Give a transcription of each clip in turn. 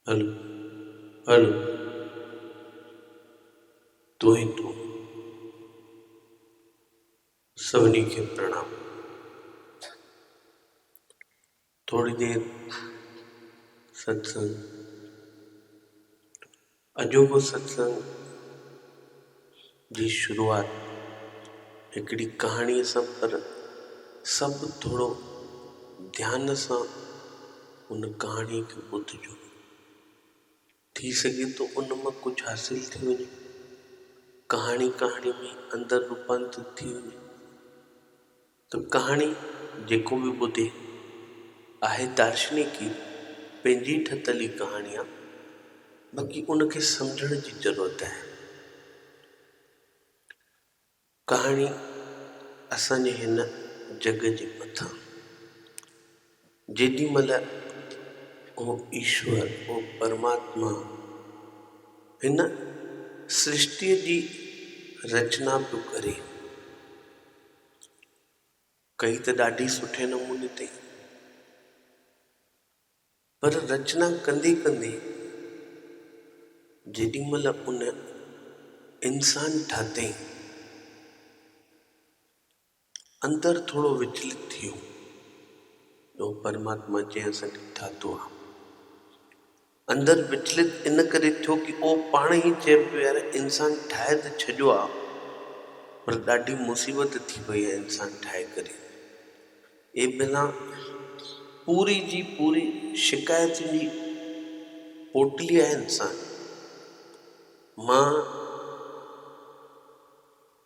هل تون ئي تون سڀني کي پرڻام. ٿوري دير ستسنگ. اجوبو ستسنگ جي شروعات هڪڙي ڪهاڻيء سان پر سڀ ٿورو ڌيان سان ان ڪهاڻيء کي ٻڌجو. ٿي سگهي ٿو ان مان ڪجهه حاصل ٿي وڃي. ڪهاڻي ڪهاڻي ۾ اندر روپانترت ٿي وڃي. ته ڪهاڻي جيڪو به ٻڌي، آهي دارشنيڪي پنهنجي ٺتل ئي ڪهاڻي آ، باقي ان کي سمجهڻ جي ضرورت آهي. ڪهاڻي اسان جي هن جڳ جي مٿان جيڏي مهل اهو ايشور، اهو پرماتما، هن سرشتيء جي رچنا پيو ڪري، ڪئي ته ڏاڍي سٺي نموني تي ئي پر رچنا ڪندي ڪندي جيڏي مھل ان انسان ٺاھتئين اندر ٿورو وچلت ٿيو جو پرماتما جنھن اسان کي ٺاھتو آھي اندر وچلت ان ڪري ٿيو ڪي او پاڻ ئي چئي پيو يار انسان ٺاهي ته ڇڏيو آ پر ڏاڍي مصيبت ٿي پئي آ انسان ٺاهي ڪري اي بلان پوري جي پوري شڪايتن جي پوٽلي آ انسان مان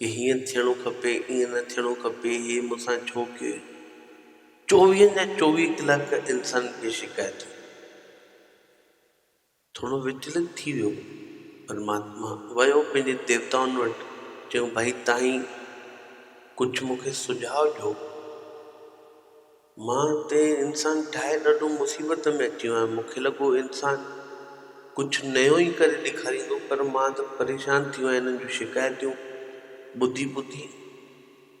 هي هيئن ٿيڻو کپي، ايئن نه ٿيڻو کپي، هي مون سان ڇو ڪيو؟ چوويهن جا چوويهه ڪلاڪ انسان کي شڪايتون. ٿورو وچلت ٿي ويو. پرماتما ويو پنهنجي ديوتائن وٽ، چيو، ڀائي تهين ڪجهه مون کي سجهاء ڏيو. مان ته انسان ٺاهي ڏاڍو مصيبت ۾ اچي ويو آهيان، مون کي لڳو انسان ڪجهه نيون ئي ڪري ڏيکاريندو پر مان ته پريشان ٿي ويو آهيان انهن جون شڪايتون ٻڌي ٻڌي،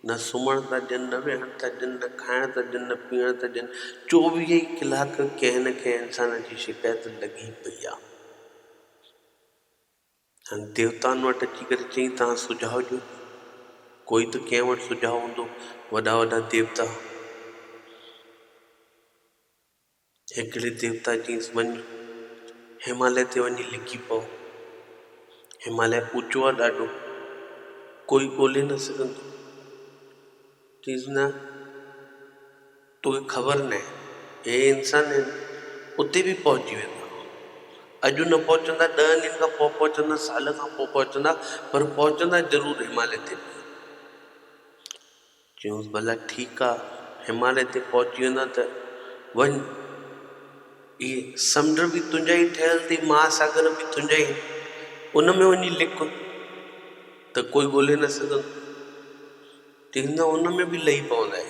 نه سمهڻ ٿا ڏين، نه ويهڻ ٿا ڏين، نه کائڻ ٿا ڏين، نه پيئڻ ٿا ڏين، چوويهه ئي ڪلاڪ ڪنهن نه ڪنهن انسان جي شڪايت لڳي پئي آهي. هن ديوتائن وٽ اچي ڪري چيائين، توهان سجاء ڏيو ته ڪوئي ته ڪنهن وٽ سجاء هوندو، وڏا وڏا ديوتا. هڪڙي ديوتا چيس، وڃ هماليه تي وڃي لڪي پؤ، هماليه اوچو آ ڏاڍو، ڪوئي ڳولي نه سگهندو. چيس نه! توکي خبر ناهي هي انسان آهن اتي به پهچي ويندا اڄ نه پهچندا ڏهن ڏينهن کان پوء پهچندا سال کان پوء پهچندا پر پهچندا ضرور هماليه تي به چيونس ڀلا ٺيڪ آ هماليه تي پهچي ويندا ته وڃ هي سمنڊ به تنهنجا ئي ٺهيل اٿئي مهاساگر به تنهنجا ئي ان ۾ وڃي لڪ ته ڪوئي ڳولهي نه سگهندو تن نه ان ۾ به لهي پوندئه.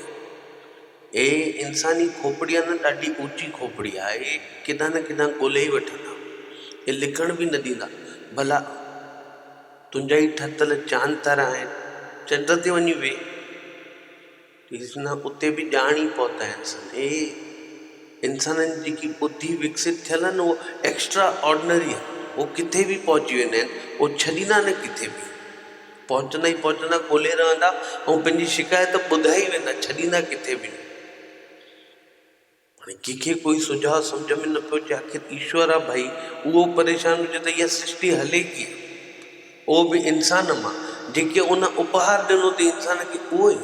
هيء انساني کوپڙي آ نه ڏاڍي اوچي کوپڙي آ. هي ڪيڏانهن نه ڪيڏانهن ڳولهي ئي وٺندا. هي لڪڻ به نه ڏيندا. ڀلا تنهنجا ئي ٺتل چاند تارا آهن. چنڊ تي وڃي ويهه. ڏسيس نه اتي به ڄاڻ ئي پهتائينس. هي انسانن جي جيڪي ٻڌي وڪسيت ٿيل آ نه اها ايڪسٽرا آرڊنري آ. هو ڪٿي به پهچي ويندا آهن. هو ڇڏيندا نه ڪٿي به. پهچندا ئي پهچندا ڳولي رهندا ۽ پنهنجي شڪايت ٻڌائي ويندا، ڇڏيندا ڪٿي به نه. هاڻي ڪنهن کي ڪوئي سجهاء سمجهه ۾ نه پيو اچي آخر ايشور آ ڀائي اهو پريشان هجي ته اها سرشٽي هلي ڪيئن اهو به انسان مان جيڪي ان اپهار ڏنو تي انسان کي اهو ئي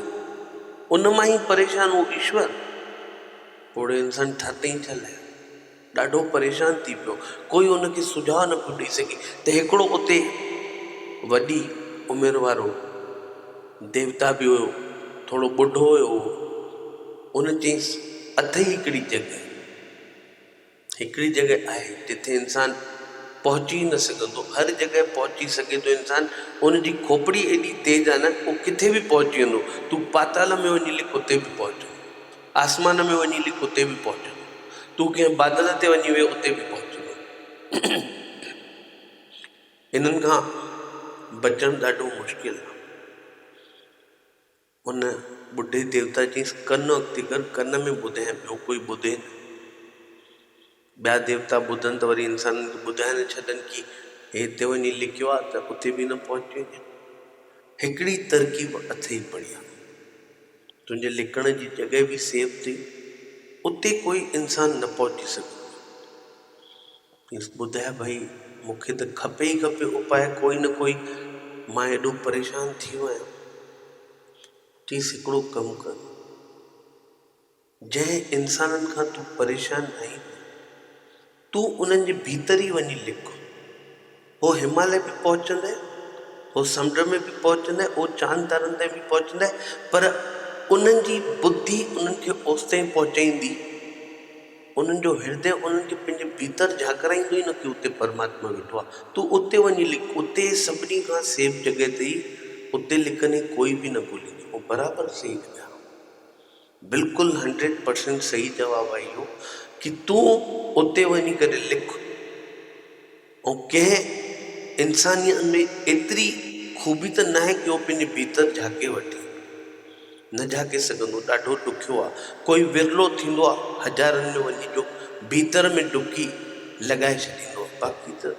ان مان ئي پريشان اهو ايشور پوڙهو انسان ٺر ڏئي ڇا لاهيو. ڏاڍو پريشان ٿي پيو. ڪوئي ان کي سجهاء نه پيو ڏئي سگهي ته هڪڙو اتي وڏي عمر وارو ديوتا به هيو، ٿورو ٻڍو هيو اهو. ان چيس، اٿئي هڪڙي جڳهه، هڪڙي جڳهه آهي جتي انسان پهچي ئي نه سگهندو. هر جڳهه پهچي سگهي ٿو انسان. ان جي کوپڙي ايڏي تيز آهي نه، هو ڪٿي به پهچي ويندو. تون پاتال ۾ وڃي لڪ اتي به پهچ. آسمان ۾ وڃي لڪ اتي به پهچندو. تون ڪنهن بادل تي وڃي ويهه اتي به پهچندو. انهن کان بچڻ ڏاڍو مشڪل آ. ان ٻڍي ديوتا چيس، ڪن اڳتي ڪر، ڪن ۾ ٻڌ ۽ ٻيو ڪوئي ٻڌي نه. ٻيا ديوتا ٻڌن ته وري انسانن کي ٻڌائي نه ڇڏن ڪي هي هتي وڃي لڪيو آ ته اتي به نه پهچي وڃي. هڪڙي ترڪيب اٿئي بڙيا. تنهنجي لڪڻ جي جڳهه به سيف ٿئي. اتي ڪوئي انسان نه پهچي سگهندو. چيس ٻڌاء ڀئي مون کي ته کپي ئي کپي اپاء ڪوئي نه ڪوئي مان ايڏو پريشان ٿيو آهيان. چيس هڪڙو ڪم ڪر. جنهن انسانن کان تون پريشان آهين نه، تون انهن جي ڀيتر ئي وڃي لڪ. هو هماليه به پهچندي، هو سمنڊ ۾ به پهچندي، هو چاند تارن تائين به پهچندي، پر انهن جي ٻڌي انهن کي اوستائين پهچائيندي، انهن جو هردي انهن کي پنهنجي ڀيتر جهاڪرائيندو ئي نه ڪي اتي پرماتما ويٺو آهي. تون اتي وڃي لڪ، اتي سڀني کان سيف جڳهه اٿئي، اتي لڪندين ڪوئي به نه ڳوليندي. هو برابر سهي لڳا. بلڪل هنڊريڊ پرسينٽ صحيح جواب آهي اهو ڪي تون اتي وڃي ڪري لک ۽ ڪنهن انسانيت ۾ ايتري خوبي ته ناهي ڪي هو پنهنجي ڀيتر جهاڪي وٺي نه جهاڪي سگهندو ڏاڍو ڏکيو آ ڪوئي ورلو ٿيندو آ هزارن ۾ وڃي جو ڀيتر ۾ ڊبڪي لڳائي ڇڏيندو آ باقي ته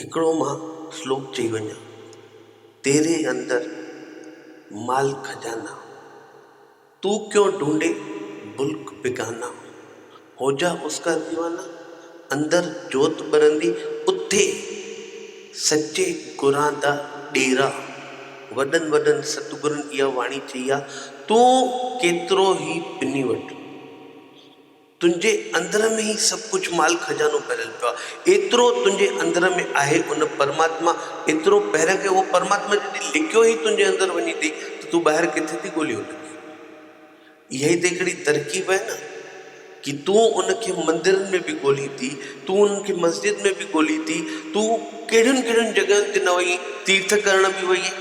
هڪڙو مان سلوڪ چئي وڃان، تيري اندر مال خزانا، تون ڪيون ڍونڍي بلڪ بيگانا، هوجا اس ڪا ديوانا، اندر جوت ٻرندي اٿي، سچي گران دا ڏيرا، وڏن وڏن ستگرن اها واڻي چئي آ، تون ڪيترو هي پني وٺ. تنهنجي اندر ۾ ئي سڀ ڪجهه مال خزانو ڀريل پيو آهي. ايترو تنهنجي اندر ۾ آهي ان پرماتما ايترو پهريان کي اهو پرماتما جڏهن لڪيو ئي تنهنجي اندر وڃي ٿي ته تون ٻاهر ڪٿي ٿي ڳولي ان کي. اها ئي ته هڪڙي ترڪيب آهي نه ڪي تون ان کي مندرن ۾ به ڳولين ٿي، تون ان کي مسجد ۾ به ڳولين ٿي، تون ڪهڙين ڪهڙين جڳهين تي نه وئي آهين، تيرٿ ڪرڻ به وئي آهين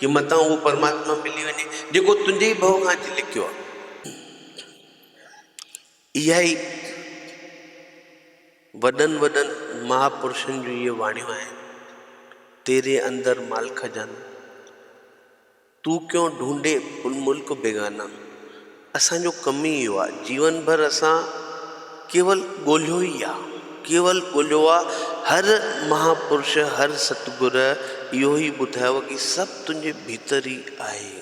ڪي متان اهو پرماتما ملي وڃي جيڪو تنهنجي ئي ڀؤ کان اچي لڪيو آهي. اها ئي وڏن وڏن مهاپرشن جون اهي واڻيون آهن، تيري اندر مالڪه جان، تون ڪيون ڍونڍي ان ملڪ بيگانا. اسان جو ڪم ئي اهو آهي، جيون ڀر اسان ڪيول ڳولهيو ئي آهي، ڪيول ڳولهيو آهي. هر مهاپرش، هر ستگر اهو ئي ٻڌايو آهي ڪي سڀ تنهنجي ڀيتر ئي آهي.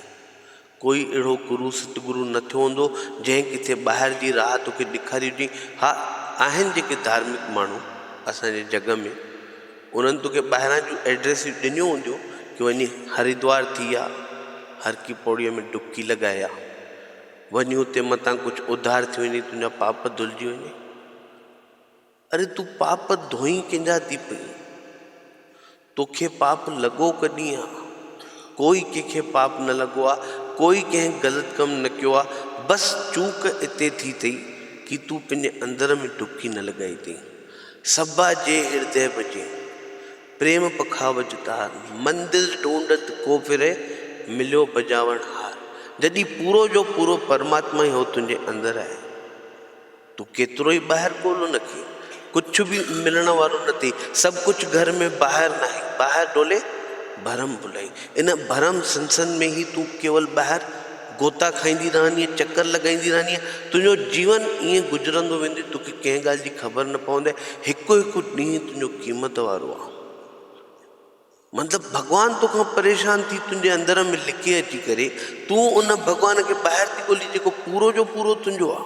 ڪوئي اهڙو گرو ستگرو نه ٿيو هوندو، جنهن ڪٿي ٻاهر جي راهه توکي ڏيکاري هجي. ها، آهن جيڪي ڌارمڪ ماڻهو اسان جي جڳ ۾، انهن توکي ٻاهران جون ايڊريسون ڏنيون هونديون ڪي وڃي هريدوار ٿي آ، هرڪي پوڙهيء ۾ ڊبڪي لڳائي آ. وڃي اتي متان ڪجهه اڌار ٿي وڃي، تنهنجا پاپ ڌلجي وڃي. اري تون پاپ ڌوئين ڪينجا ٿي پئين توکي پاپ لڳو ڪڏھين آ ڪوئي ڪينکي پاپ نه لڳو آ ڪوئي ڪنھن غلط ڪم نه ڪيو آ بس چوڪ اتي ٿي ٿئي ڪي تون پنھنجي اندر ۾ ڊبڪي نه لڳائي ٿئين سبا جي ھردي بجي پريم پکاوج تار مندل ڊونڊت ڪو پھري مليو بجاوڻ ھار جڏھين پورو جو پورو پرماتما ھي ھو تنھنجي اندر آھي. تون ڪيترو ئي ٻاهر ڳولهه نه ڪيئي ڪجهه به ملڻ وارو نه ٿئي سڀ ڪجهه گهر ۾ ٻاهر ناهي ٻاهر ڏولي ڀرم ڀلائي ان ڀرم سنسن ۾ ئي تون ڪيول ٻاهر گوتا کائيندي رهندينء چڪر لڳائيندي رهندينء تنهنجو جيون ائين گذرندو ويندي توکي ڪنهن ڳالهه جي خبر نه پوندي هڪ هڪ ڏينهن تنهنجو قيمت وارو آ. مطلب ڀڳوان توکان پريشان ٿي تنهنجي اندر ۾ لڪي اچي ڪري تون ان ڀڳوان کي ٻاهر ٿي ڳولي جيڪو پورو جو پورو تنهنجو آ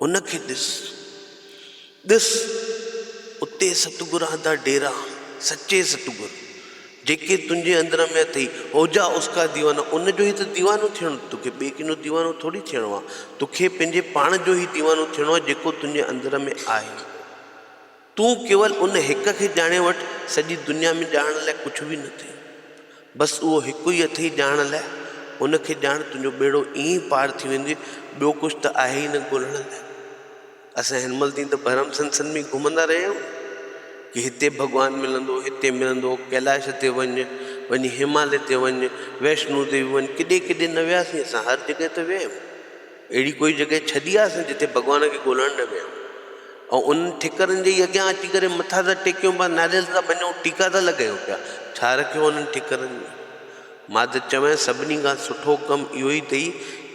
ان کي ڏس ڏس اتي ستگر آندا ڊيرا سچي ستگر جيڪي تنهنجي اندر ۾ اٿئي اوجا اسڪا ديوانا ان جو ئي ته ديوانو ٿيڻو توکي ٻئي ڪنهن جو ديوانو ٿوري ٿيڻو آ توکي پنهنجي پاڻ جو ئي ديوانو ٿيڻو آ جيڪو تنهنجي اندر ۾ آهي. تون ڪيول ان هڪ کي ڄاڻي وٺ، سڄي دنيا ۾ ڄاڻڻ لاء ڪجهه به نه ٿئي. بس اهو هڪ ئي اٿئي ڄاڻڻ لاء، ان کي ڄاڻ، تنهنجو ٻيڙو ائين ئي پار ٿي ويندوئي، ٻيو ڪجهه ته آهي ئي نه ڳولڻ لاء. اسان هن مهل تائين ته ڀرم سنسن ۾ ئي گهمندا رهيا آهيون ڪي هتي ڀڳوان ملندو، هتي ملندو، ڪيلاش تي وڃ، وڃي هماليه تي وڃ، ويشنو ديوي وڃ، ڪيڏي ڪيڏي نه وياسين اسان، هر جڳهه ته ويا آهيون. اهڙي ڪوئي جڳهه ڇڏي آسين جتي ڀڳوان کي ڳولڻ نه ويهون ۽ انهن ٺڪرن جي ئي اڳيان اچي ڪري مٿا ٿا ٽيڪيون پيا، ناريل ٿا ڀڃون، ٽيڪا ٿا لڳايون پيا. ڇا رکيو انهن ٺڪرن ۾؟ ماء ته چوين سڀني کان سٺو ڪم اهو ئي اٿئي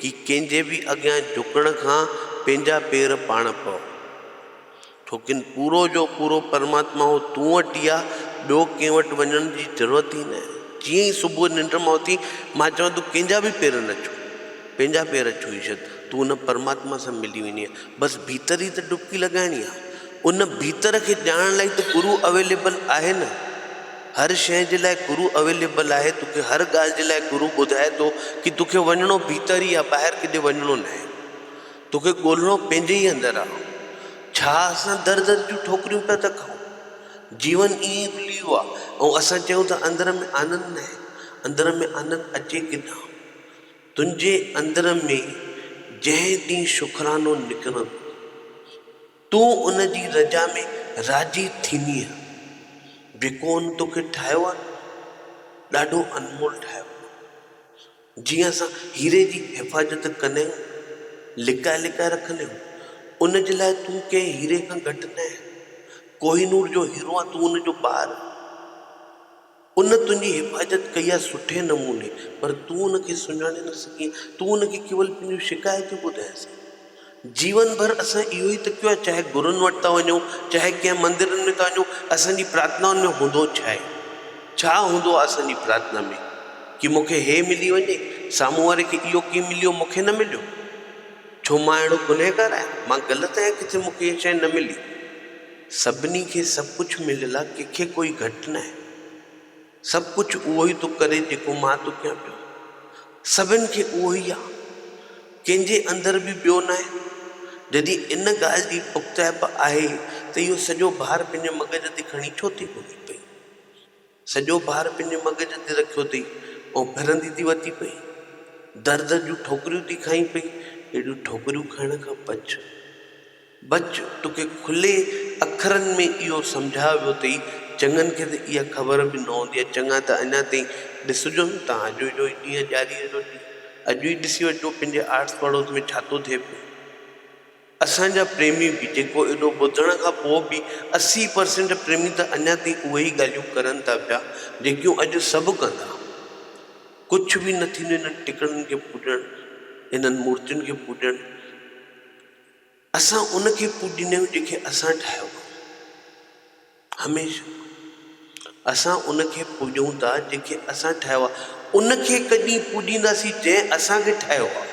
ڪي ڪنهن جي به اڳيان جهڪڻ کان پنهنجا پير پاڻ پئو. توکن پورو جو پورو پرماتما هو تون وٽ ئي آ، ٻيو ڪنهن وٽ وڃڻ جي ضرورت ئي ناهي. جيئن ئي صبح ننڊ مان اٿين، مان چوان تون ڪنهن جا به پير نه ڇهه، پنهنجا پير ڇهي ڇڏ، تون ان پرماتما سان ملي ويندينء. بس ڀيتر ئي ته ڊبڪي لڳائڻي آ. ان ڀيتر کي ڄاڻڻ لاء ئي ته گرو اويليبل آهي نه. هر شيء جي لاء گرو اويليبل آهي، توکي هر ڳالهه جي لاء گرو ٻڌائي ٿو ڪي توکي وڃڻو ڀيتر ئي آ، ٻاهر ڪيڏي وڃڻو ناهي. توکي ڳولڻو پنهنجي ئي اندر آ. ڇا اسان در در جون ٺوڪريون پيا ٿا کائون؟ جيون ائين ئي وليو آ ۽ اسان چيون ٿا اندر ۾ آنند ناهي. اندر ۾ آنند اچي ڪي نه؟ تنهنجي اندر ۾ جنهن ڏينهن شڪرانو نڪرندو تون ان جي رضا ۾ راضي ٿيندينء. جيڪو ان توکي ٺاهيو آ نه ڏاڍو انمول ٺاهيو اٿئي. جيئن اسان هيري جي حفاظت ڪندا آهيون، لڪائي لڪائي رکندا آهيون، ان جي لاء تون ڪنهن هيري کان گهٽ نه آهين. ڪوهي نور جو هيرو آهين، تون ان جو ٻار آهين. ان تنهنجي حفاظت ڪئي آهي سٺي نموني، پر تون ان کي سڃاڻي نه سگهين. تون ان کي ڪيول پنهنجون شڪايتون ٻڌايس آهي. جيون ڀر اسان اهو ئي ته ڪيو آهي، چاهي گرون وٽ ٿا وڃون، چاهي ڪنهن مندرن ۾ ٿا وڃون، اسان جي پرارٿنائن ۾ هوندو ڇا آهي؟ ڇا هوندو آهي اسان جي پرارٿنا ۾؟ ڪي مون کي هي ملي وڃي، سامهون واري کي اهو ڪي مليو مون کي نه مليو؟ ڇو مان اهڙو گنهگار آهيان، مان غلط آهيان ڪٿي مون کي اها شيء نه ملي؟ سڀني کي سڀ ڪجهه مليل آهي، ڪنهن کي ڪوئي گهٽ ناهي. سڀ ڪجهه اهو ئي ٿو ڪري جيڪو مان ٿو ڪيان پيو. سڀن کي اهو ئي آهي. ڪنهن جي اندر به ٻيو ناهي. جڏهن ان ڳالهه جي پختائپ آهي ته اهو سڄو بار پنهنجي مغز تي کڻي ڇو ٿي گهمي پئي؟ سڄو بار پنهنجي مغز تي رکيو اٿئي ۽ ڦرندي ٿي وتي پئي. در در جون ٺوڪريون ٿي کائين پئي. اهڙيون ٺوڪريون کائڻ کان بچ. بچ، توکي کلي اکرن ۾ اهو سمجهايو ويو اٿئي، چڱن کي ته اها خبر به نه هوندي آهي، چڱا ته اڃا تائين ڏسجون ٿا، اڄ جو ئي ڏينهن ڄاڙيء جو ڏينهن، اڄ ئي ڏسي وٺجو پنهنجي آڙس پڙوس ۾ ڇا ٿو ٿئي پيو. اسان جا پريمي به، جيڪو ايڏو ٻڌڻ کان پوء به اسي پرسينٽ پريمي ته اڃا تائين اهي ئي ڳالهيون ڪرن ٿا پيا، جيڪيون اڄ سڀ ڪن ٿا. ڪجهه به نه ٿيندو انهن ٽڪڙن کي پوڄڻ، انهن مورتين کي پوڄڻ. اسان ان کي پوڄيندا آهيون جيڪي اسان ٺاهيو آهي. هميشه اسان ان کي پوڄون ٿا جيڪي اسان ٺاهيو آهي. ان کي هڪ ڏينهن پوڄينداسين جنهن اسان کي ٺاهيو آهي.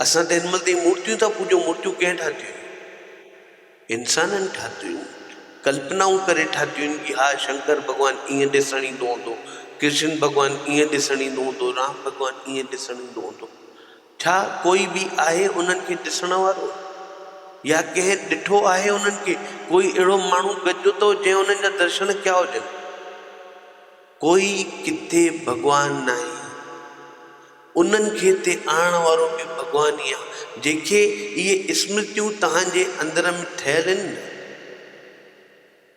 اسان ته هن مهل تائين مورتيون ٿا پوڄون، مورتيون ڪنهن ٺاهيون آهن؟ انسانن ٺاهيون آهن. ڪلپنائون ڪري ٺاهيون آهن ڪي ها شنڪر ڀڳوان ائين ڏسڻ ايندو هوندو، ڪرشن ڀڳوان ائين ڏسڻ ايندو هوندو، رام ڀڳوان ائين ڏسڻ ايندو هوندو. ڇا ڪوئي به آهي انهن کي ڏسڻ وارو يا ڪنهن ڏٺو آهي انهن کي؟ ڪوئي اهڙو ماڻهو گڏجو اٿئو جنهن انهن جا درشن ڪيا هجن؟ ڪوئي ڪٿي ڀڳوان ناهي انهن کي اتي آڻڻ وارو به ڀڳوان ئي آهي جنهن کي اهي اسمرتيون توهان جي اندر ۾ ٺهيل هن نه؟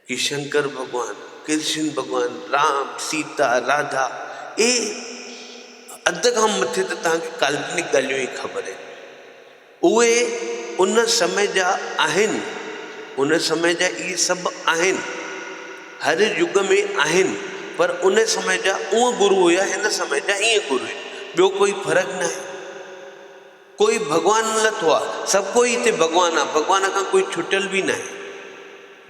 هي شنڪر ڀڳوان، ڪرشن ڀڳوان، رام، سيتا، راڌا اهي اڌ کان مٿي ته توهان کي ڪالپنڪ ڳالهيون ئي خبر آهن. اهي ان سمي جا آهن، ان سمي جا اهي سڀ آهن، هر يگ ۾ آهن پر ان سمي جا اونء گرو هيا هن سمي جا هينء گرو هين ٻيو ڪوئي فرق ناهي. ڪوئي ڀڳوان نٿو آ، سڀ ڪوئي هتي ڀڳوان آ، ڀڳوان کان ڪوئي ڇٽيل به ناهي،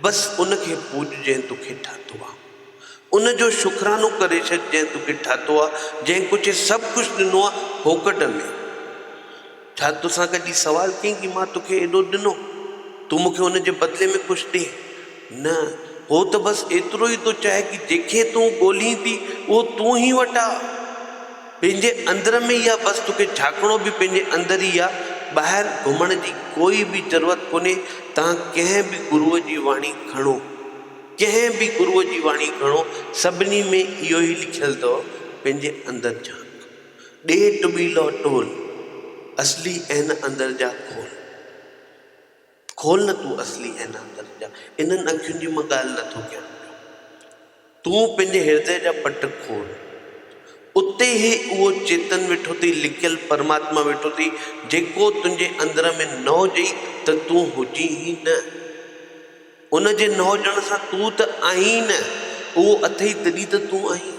بس ان کي پوڄ جنهن توکي ٺاهتو آ، ان جو شڪرانو ڪري ڇڏ جنهن توکي ٺاهتو آ، جنهن ڪوچي سڀ ڪجهه ڏنو آ ڦوڪٽ ۾، ڇا توسان ڪڏهن سوال ڪيئي ڪي مان توکي ايڏو ڏنو، تون مون کي ان جي بدلي ۾ ڪجهه ڏي، نه هو ته بس ايترو ئي ٿو چاهي ڪي جنهن کي تون ڳولهين ٿي اهو تون هي وٽ آ. پنهنجي اندر ۾ ئي آ بس توکي جهاڪڻو به پنهنجي اندر ئي آ ٻاهر گهمڻ جي ڪوئي به ضرورت ڪونهي توهان ڪنهن به گروء جي واڻي کڻو ڪنهن به گروء جي واڻي کڻو سڀني ۾ اهو ئي لکيل اٿو پنهنجي اندر جهانڪ ڏي ٽٻي لئو ٽول اصلي عين اندر جا کول. کول نه تون اصلي اين اندر جا. انهن اکين جي مان ڳالهه نه ٿو ڪيان پيو. تون پنهنجي هردئ جا پٽ کول. اتي ئي اهو چيتن ويٺو اٿئي، لڪيل پرماتما ويٺو اٿئي، جيڪو تنهنجي اندر ۾ نه هجئي ته تون هجين ئي نه. ان جي نه هجڻ سان تون ته آهين ئي نه. اهو اٿئي تڏهن ته تون آهين.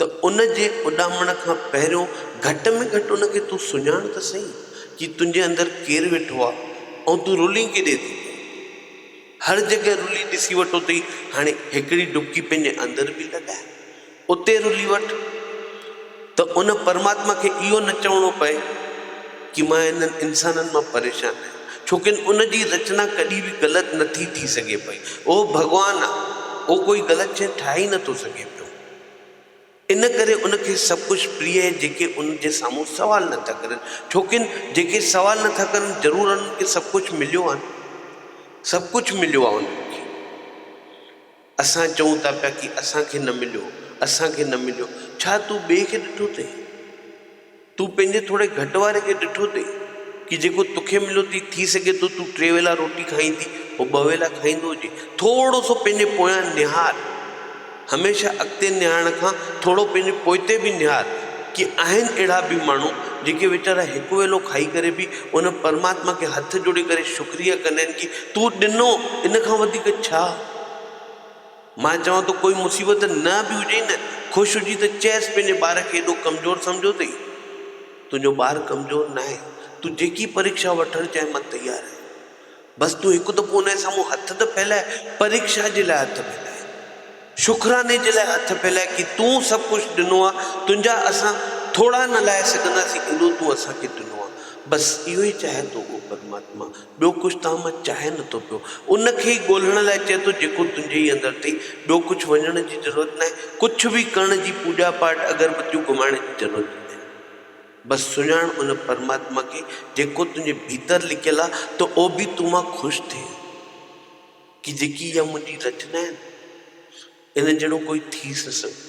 ته ان جي اڏامڻ کان پهريون گهٽ ۾ گهٽ ان کي تون سڃاڻ ته سهي چي تنهنجي اندر ڪير ويٺو آ ۽ تون رولين ڪيڏي ٿو ڪرين. هر جڳهه رولي ڏسي وٺو ٿي هاڻي هڪڙي ڊٻڪي پنهنجي اندر به لڳاء اتي رولي وٺ ته ان پرماتما کي اهو نه چوڻو پئي چي مان انهن انسانن مان پريشان آهيان ڇوڪن ان جي رچنا ڪڏهن به غلط نٿي ٿي سگهي پئي اهو ڀڳوان آ اهو ڪوئي غلط شئي ٺاهي نٿو سگهي پيو. ان ڪري ان کي سڀ ڪجهه پريء آهي جيڪي ان جي سامهون سوال نه ٿا ڪرن ڇوڪن جيڪي سوال نه ٿا ڪرن ضرور انهن کي سڀ ڪجهه مليو آهي نه سڀ ڪجهه مليو آهي انهن کي اسان چئون ٿا پيا ڪي اسان کي نه مليو اسان کي نه مليو ڇا تون ٻئي کي ڏٺو اٿئي تون پنهنجي ٿوري گهٽ واري کي ڏٺو اٿئي ڪي جيڪو توکي مليو اٿئي؟ ٿي سگهي ٿو تون ٽي ويلا روٽي کائيندي هو ٻه ويلا کائيندو هجي. ٿورو سو پنهنجي پويان نهار. هميشه اڳتي نهارڻ کان ٿورو پنهنجي پوئتي به نهار ڪي آهن اهڙا به ماڻهو جيڪي ويچارا هڪ ويلو کائي ڪري به ان پرماتما کي هٿ جوڙي ڪري شڪريه ڪندا آهن ڪي تون ڏنو ان کان وڌيڪ ڇا؟ مان چوان ٿو ڪوئي مصيبت نه به هجئي نه خوش هجي ته چئس پنهنجي ٻار کي ايڏو ڪمزور سمجهيو اٿئي؟ تنهنجو ٻار ڪمزور ناهي تون جيڪي پريڪشا وٺڻ چاهين مان تيار آهيان بس تون هڪ دفعو ان جي سامهون هٿ ته ڦهلائي پريڪشا جي لاء هٿ ڦهلائي شڪراني جي لاء هٿ ڦهلائي ڪي تون سڀ ڪجهه ڏنو آهي تنهنجا اسان ٿوڙا نه لائي سگهنداسين ايڏو تون اسان کي ڏنو آهي بس اهو ئي چاهي ٿو ڪو پرماتما ٻيو ڪجهه تان مان چاهي نه ٿو پيو. ان کي ئي ڳولهڻ لاء چئي ٿو جيڪو تنهنجي ئي اندر اٿئي. ٻيو ڪجهه وڃڻ جي ضرورت ناهي. ڪجهه به ڪرڻ جي پوڄا پاٽ اگربتيون گهمائڻ جي ضرورت ئي ناهي. بس سڃاڻ ان پرماتما کي جيڪو تنهنجي ڀيتر لڪيل آ ته او به تون مان خوش ٿئي ها ڪي جيڪي اها منهنجي رچنا آهن ان جهڙو ڪوئي ٿي نه سگهندو.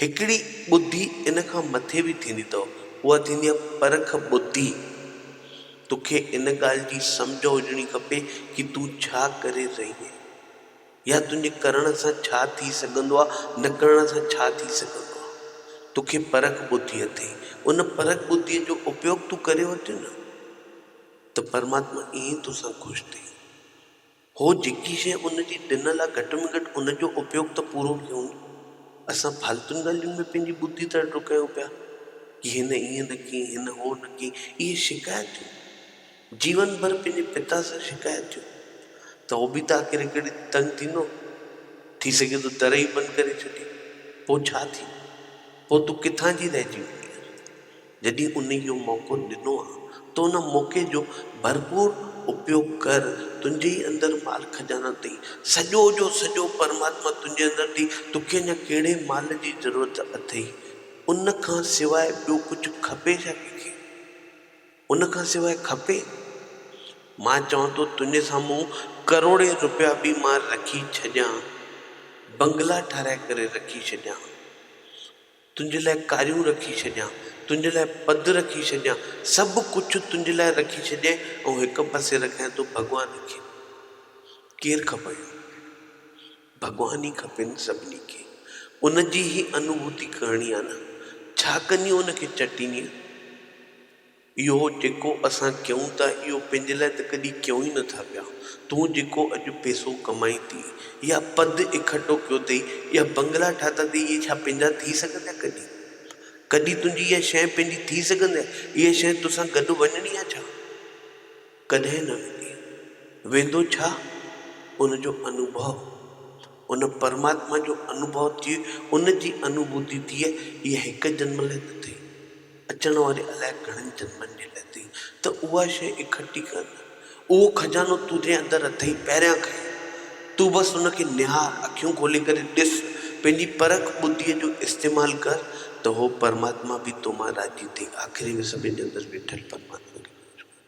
هڪڙي ٻڌي ان کان مٿي به ٿيندي اٿو، اها ٿيندي آهي پرک ٻڌي. توکي ان ڳالهه جي سمجهه هجڻي کپي ڪي تون ڇا ڪري رهي آهين يا تنهنجي ڪرڻ سان ڇا ٿي سگهندو آهي نه ڪرڻ سان ڇا ٿي سگهندو آهي. توکي پرک ٻڌي اٿئي، ان پرک ٻڌي جو اپيوگ تون ڪري ورتين ته پرماتما ائين توسان خوش ٿئي. هو جيڪي شيء ان جي ڏنل آ گهٽ ۾ گهٽ ان جو اپيوگ ته پورو ڪيون. اسان ڦالتون ڳالهين ۾ پنهنجي ٻڌي تڙڙو ڪيون پيا ڪي هن ائين نه ڪيئي هن هو نه ڪيئي اهي شڪايتون جيون ڀر پنهنجي پتا سان شڪايت ٿيون ته هو به ته آخر هڪ ڏينهن تنگ ٿيندو ٿي سگهي ٿو در ئي بند ڪري ڇڏي پوء ڇا ٿيندو پوء تون ڪٿان جي رهجي وڃينء. جڏهن انهي اهو موقعو ڏنو آ ته ان موقعي جو ڀرپور اپيوگ ڪر، تنهنجي ئي اندر مال خزانه ٿئي، سڄو جو سڄو پرماتما تنهنجي اندر ٿئي، توکي اڃا ڪهڙي مال جي ضرورت اٿئي، ان کان سواء ٻيو ڪجهه کپي ڇا ڪنهنکي؟ ان کان سواء کپي؟ مان چوان ٿو تنهنجي سامهون ڪروڙين روپيا به مان رکي ڇڏيان، بنگلا ٺهرائي ڪري رکي ڇڏيان، تنهنجي لاء ڪاريون رکي ڇڏيان، تنهنجي لاء پڌ رکي ڇڏيان، سڀ ڪجهه تنهنجي لاء رکي ڇڏيائين ۽ هڪ پاسي رکيائين تون ڀڳوان کي. ڪير کپئي ها؟ ڀڳوان ئي کپي نه سڀني کي. ان جي هي انوڀوتي ڪرڻي آهي نه. ڇا ڪندينء ان کي چٽيندينء؟ اهو جيڪو اسان ڪيون ٿا اهو پنهنجي لاء ته ڪڏهن ڪيون ئي نه ٿا پيا. تون جيڪو اڄ پيسو ڪمائين ٿي يا پد اڪٺو ڪيو اٿئي يا بنگلا ٺاتا اٿئي اهي ڇا پنهنجا ٿي سگهندي ڪڏهن؟ ڪڏهن تنهنجي اها شيء پنهنجي ٿي سگهندي؟ اها شيء توسان گڏ وڃڻي آهي ڇا؟ ڪڏهن نه ويندي. ويندو ڇا؟ ان جو انوڀو. ان پرماتما جو انوڀو ٿئي، ان جي انوڀوتي ٿئي، اها هڪ جنم لاء نه ٿئي، اچڻ واري الائي گهڻن جنمن جي لاء ٿئي، ته اها شيء اڪٺي ڪر نه. اهو خزانو تنهنجي اندر اٿئي، پهريان کڻ. تون بس ان کي نهار، اکيون کولي ڪري ڏس، پنهنجي پرک ٻڌيء جو استعمال ڪر، ته اهو پرماتما به تو مان راضي ٿئي. آخري ۾ سڀني جي اندر ويٺل پرماتما کي پڇ ڪر.